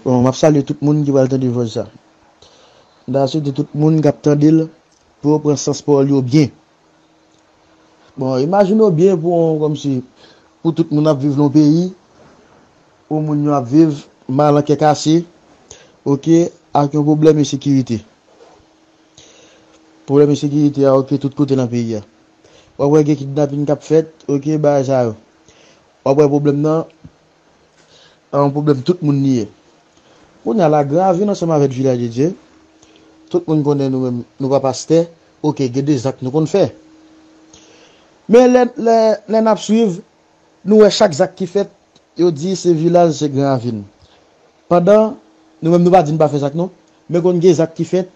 Bon map salye tout moun ki pral tande vòs sa. M ta swete tout moun kap tandel pou yo pran sans pawòl yo byen. Bon imajine w byen pou yon kòmsi pou tout moun ap viv nan yon peyi pou moun yo ap viv mal an kè kase ok ak yon pwoblèm ensekirite. Pwoblèm ensekirite a ok tout kote nan peyi a. Wap wè gen kidnapin kap fèt ok bagay sa yo. Wap wè pwoblèm nan An yon pwoblèm tout moun li ye. Kounye a Lagravin ansanm avèk Vilaj de Dye, tout moun konnen nou menm nou pa pastè, ok gen de zak nou konn fè. Men lè lè n ap swiv nou wè chak zak ki fèt yo di se Vilaj se Granravin. Pandan nou menm nou pa di n pa fè zak non, men konn gen zak ki fèt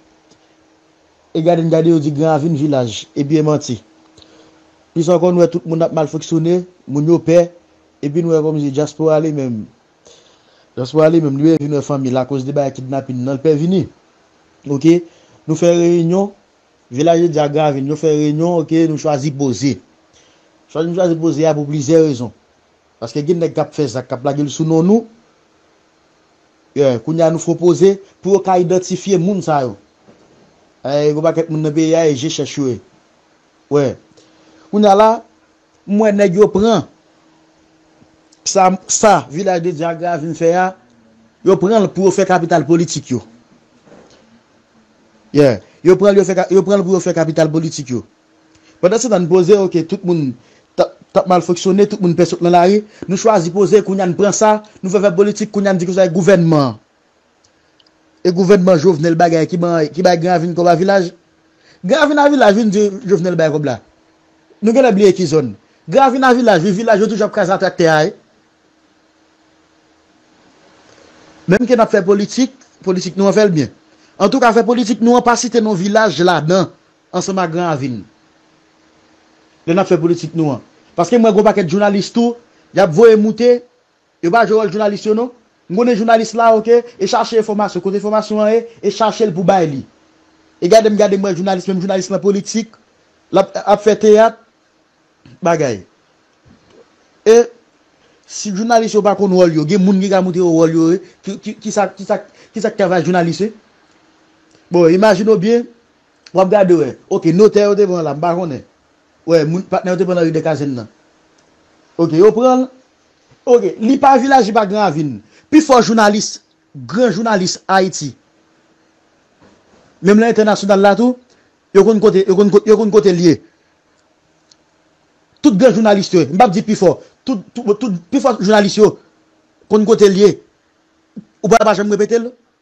e gade n gade yo di Granravin Vilaj, epi e manti. Plis ankò nou wè tout moun ap mal fonksyone, moun yo pè. Epi nou wè komsi dyaspora li menm dyaspora li menm li wè vin wè fanmil akoz de bagay kidnapin nan li pè vini ok nou fè reyinyon vilaje di ak gravin yo fè reyinyon ok nou chwazi poze chwazi nou chwazi poze a pou plizyè rezon paske gen nèg kap fè zak kap lagel sou non nou yeah kounye a nou fon poze pou yo ka idantifye moun sa yo ayy gon pakèt moun nan peyi a e je chèch yo ye wè kounye a la M wè nèg yo pran sa sa vilaj de Dyagra a vin fè a, yo pran l pou yo fè kapital politik yo. Yeah, yo pran l yo fè yo pran l pou yo fè kapital politik yo. Pandansetan n poze ok tout moun tap tap mal fonksyone, tout moun pè sot nan lari, nou chwazi poze kounye a n pran sa, nou fè fè politik kounye a n di konsa e gouvènman an. E gouvènman Jovenel bagay ki ban ki bay Granvin kòb a vilaj? Granvin a vilaj vin di Jovenel bay kòb la. Nou genlè bliye ki zòn. Granvin a vilaj wi vilaj yo toujou ap kraze a traktè a wi. Menm ke nap fè politik, politik nou an fèl byen. Antouka fè politik nou an pa site non vilaj ladan ansanm ak Granvin. Lè nap fè politik nou an. Paske m wè gon pakèt jounalis tou yap voye moute Yo pa jwe wòl jounalis yo non. M konnen jounalis la ok e chache enfòmasyon kote enfòmasyon an ye e chachel pou bay li. E gade m gade m wè jounalis menm jounalis lan politik lap ap fè teyat bagay. E si jounalis yo pa konn wòl yo gen moun ki ka moutre yo wòl yo ye kisa kisa kisa k travay jounalis ye. Bon imajine w byen wap gade wè ok notè yo te pran la m pa konnen wè moun patnè yo te pran nan ri dekazenn nan ok yo pran l Ok li pa vilaj li pa gran ravin. Pi fò jounalis gran jounalis ayiti menm lan entènasyonal la tou yo konn kote yo konn yo konn kotel ye tout gran jounalis yo m pap di pi fò tout tout pi fò jounalis yo konn kotel ye ou pa janm repetel.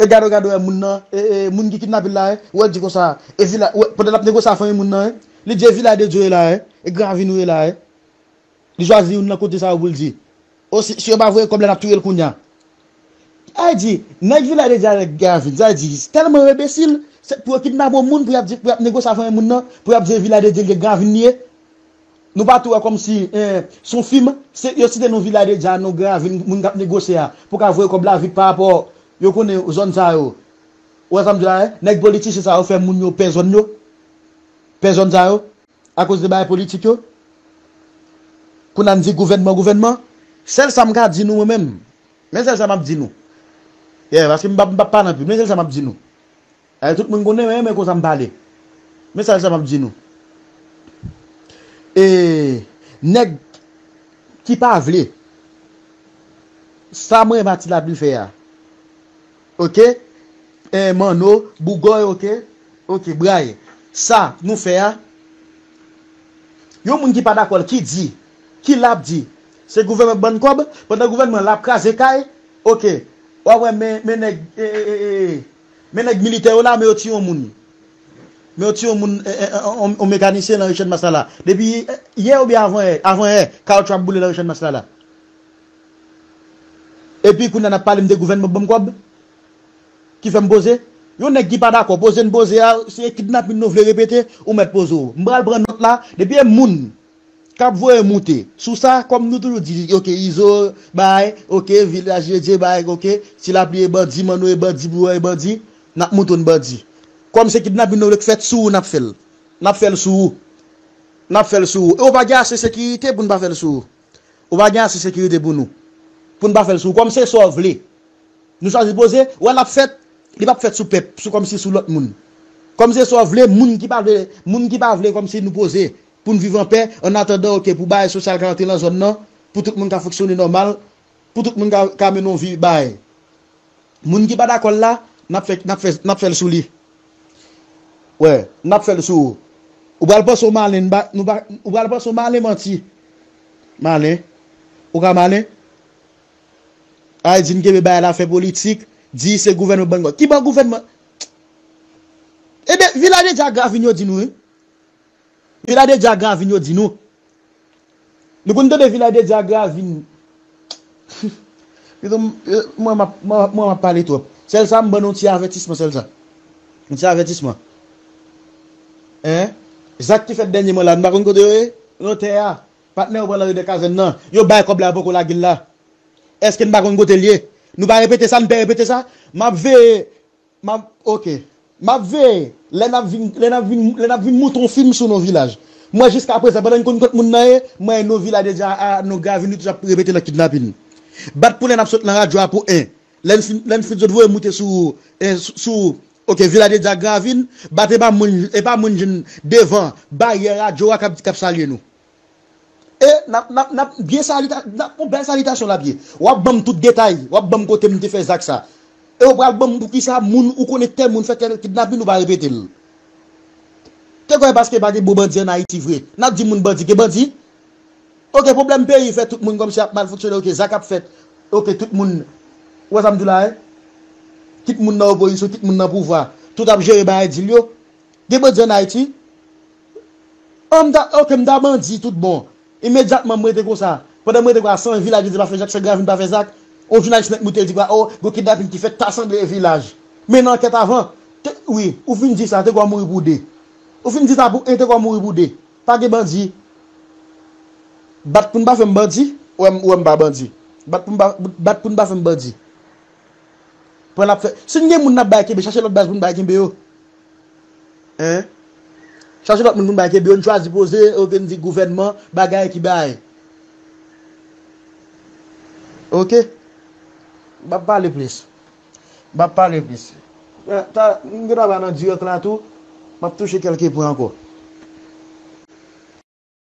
E gado gado e moun nan e e moun ki kidnapel la e ou el di konsa e vila ou pandan lap negosye a fanmi moun nan e li di e vila de dieu e la e e gran avini ou e la e li chwazi youn nan kote sa yo poul di o si si yo pa voye kob la nap touyel kounya sa e di neg vila de dieu a neg gran avini sa e di telman yo enbesil se pou yo kidnape on moun pou yap di pou yap negosye a fanmi moun nan pou yap di e vila de dieu li e gran avini li e. Nou pa tou wè kòmsi se yon fim, yo site non Villa de Dja, non Gran Ravin, moun k ap negosye a pou ka voye kòb la vit pa rapò yo konnen zòn sa yo. Ou wè sa m di w la e? Nèg politichen sa yo fè moun yo pè zòn yo, pè zòn sa yo akoz de bagay politik yo. Kounye a n di gouvènman, gouvènman. Sèl sa m ka di nou mwen menm, men sèl sa m ap di nou, yè paske m pa m pa nan pib, men sèl sa m ap di nou, Ay tout moun konnen mwen renmen konsa m pale. Mesaj sa map di nou. E nèg ki pa vle sa mwen Mati Labli fè a ok e Manno, Bougòy ok ok Bray sa nou fè a yon moun ki pa dakò l ki di ki la ap di se gouvènman k ban n kòb pandan gouvènman la ap kraze kay ok wap wè men nèg e e e e. Men nèg militè yo la men yo tiye yon moun men yo tiye yon moun yon mekanisyen nan ri channmas la la depi yè oubyen avan yè avan yè kawoutchou ap boule nan ri channmas la la epi kounya nap pale m de gouvènman banm kòb ki fèm poze yon nèg ki pa dakò poze n poze a se kidnapin nou vle repete ou mèt poze w m pral pran nòt la depi e moun. kap voye moute sou sa kom nou toujou di ok izo bay ok vilaj dedye bay ok si lapli e bandi manno e bandi bouyon e bandi nap mouton bandi kom se kidnapin nou vle k fèt sou ou nap fèl nap fèl sou ou nap fèl sou ou e ou pa gen ase sekirite poun pa fèl sou ou ou pa gen ase sekirite pou nou poun pa fèl sou ou kom se sa ou vle nou chwazi poze wè lap fèt li pap fèt sou pèp sou kom si sou lot moun kom se sa ou vle moun ki pa vle moun ki pa vle kom si nou poze poun viv anpè an atandan ok pou bay sosyal ka antre lan zòn nan pou tout moun ka fonksyone nòmal pou tout moun ka mennen yon vi bay moun ki pa dakòl la nap fè nap fè nap fèl souli wè nap fèl sou ou ou pral panse ou malen nou pa nou pa ou pral panse ou malen manti malen ou ka malen ay di n kenbe bay la fè politik di se gouvènman ban n kòb ki ban gouvènman ebyen vilaj de dyagra vin yo di nou wi. Vila de Djagravin yo di nou. Nou konn tande Vila de Djagravin. Mezanmi, mwen m ap, mwen m ap pale twòp. Sèlsa m ban nou yon ti avètisman sèlsa. Yon ti avètisman. Hein? Zak ki fèt dènyèman la a, nou pa konn kote yo ye? Lotè a, patnè yo pran nan Ri dè Kazèn nan. Yo bay kòb la yo poko lage l la. Èske n pa konn kote l ye? Nou pa repete sa? Nou pè repete sa? M ap veye. Map ok Map veye lè nap vin lè nap vin lè nap vin mouton film sou no vilaj mwen jiska prezan pandan n konn kot moun nan ye mwen e no vilaj deja a no gravin nou toujou ap repete nan kidnapin bat pou lè nap sot nan radyo a pou 1 lè n fin lè n fin zot voye moute sou e sou ok vilaj deja a gravin bat epa moun epa moun jwenn devan baryè radyo a kap kap salye nou. E nap nap nap byen salita nap on bèl salitasyon lap ye wap banm tout detay wap banm kotem te fè zak sa e ou pral banm poukisa moun ou konnen tèl moun fè tèl kidnapin ou pa repetel te kwè paske pa gen bon bandi an ayiti vre nap di moun bandi gen bandi ok pwoblèm peyi fè tout moun kòmsi ap mal fonksyone ok zak ap fèt ok tout moun ou wè sam di la hein kit moun nan opozisyon kit moun nan pouvwa tout ap jere bagay dil yo. Gen bandi an Ayiti? Oh m ta ok m ta bandi tout bon. Imedyatman m rete konsa. Pandan m rete konsa san vilaj yo di pa fè zak san gravin pa fè zak. On jounalis mèt moute l di konsa oh gon kidnapin ki fèt ta sanble e vilaj. Men nan ankèt avan te wi ou fin di sa te gwa mouri pou 2. Ou fin di sa pou 1 te gwa mouri pou 2. Pa gen bandi. Bat pou n pa fè m bandi. Ou wè m ou wè m pa bandi. Bat pou m pa bat pou n pa fè m bandi. Pran n ap fè. Si n gen moun n ap bay kenbe chache lòt baz pou n bay kenbe yo. Hein? Chache lòt moun pou n bay kebe yo, n chwazi poze ok n di gouvènman bagay ki bay. Ok. M pap pale plis. M pap pale plis. Ta m gen dwa pale nan dirèk la tou, m ap touche kèlke pwen ankò.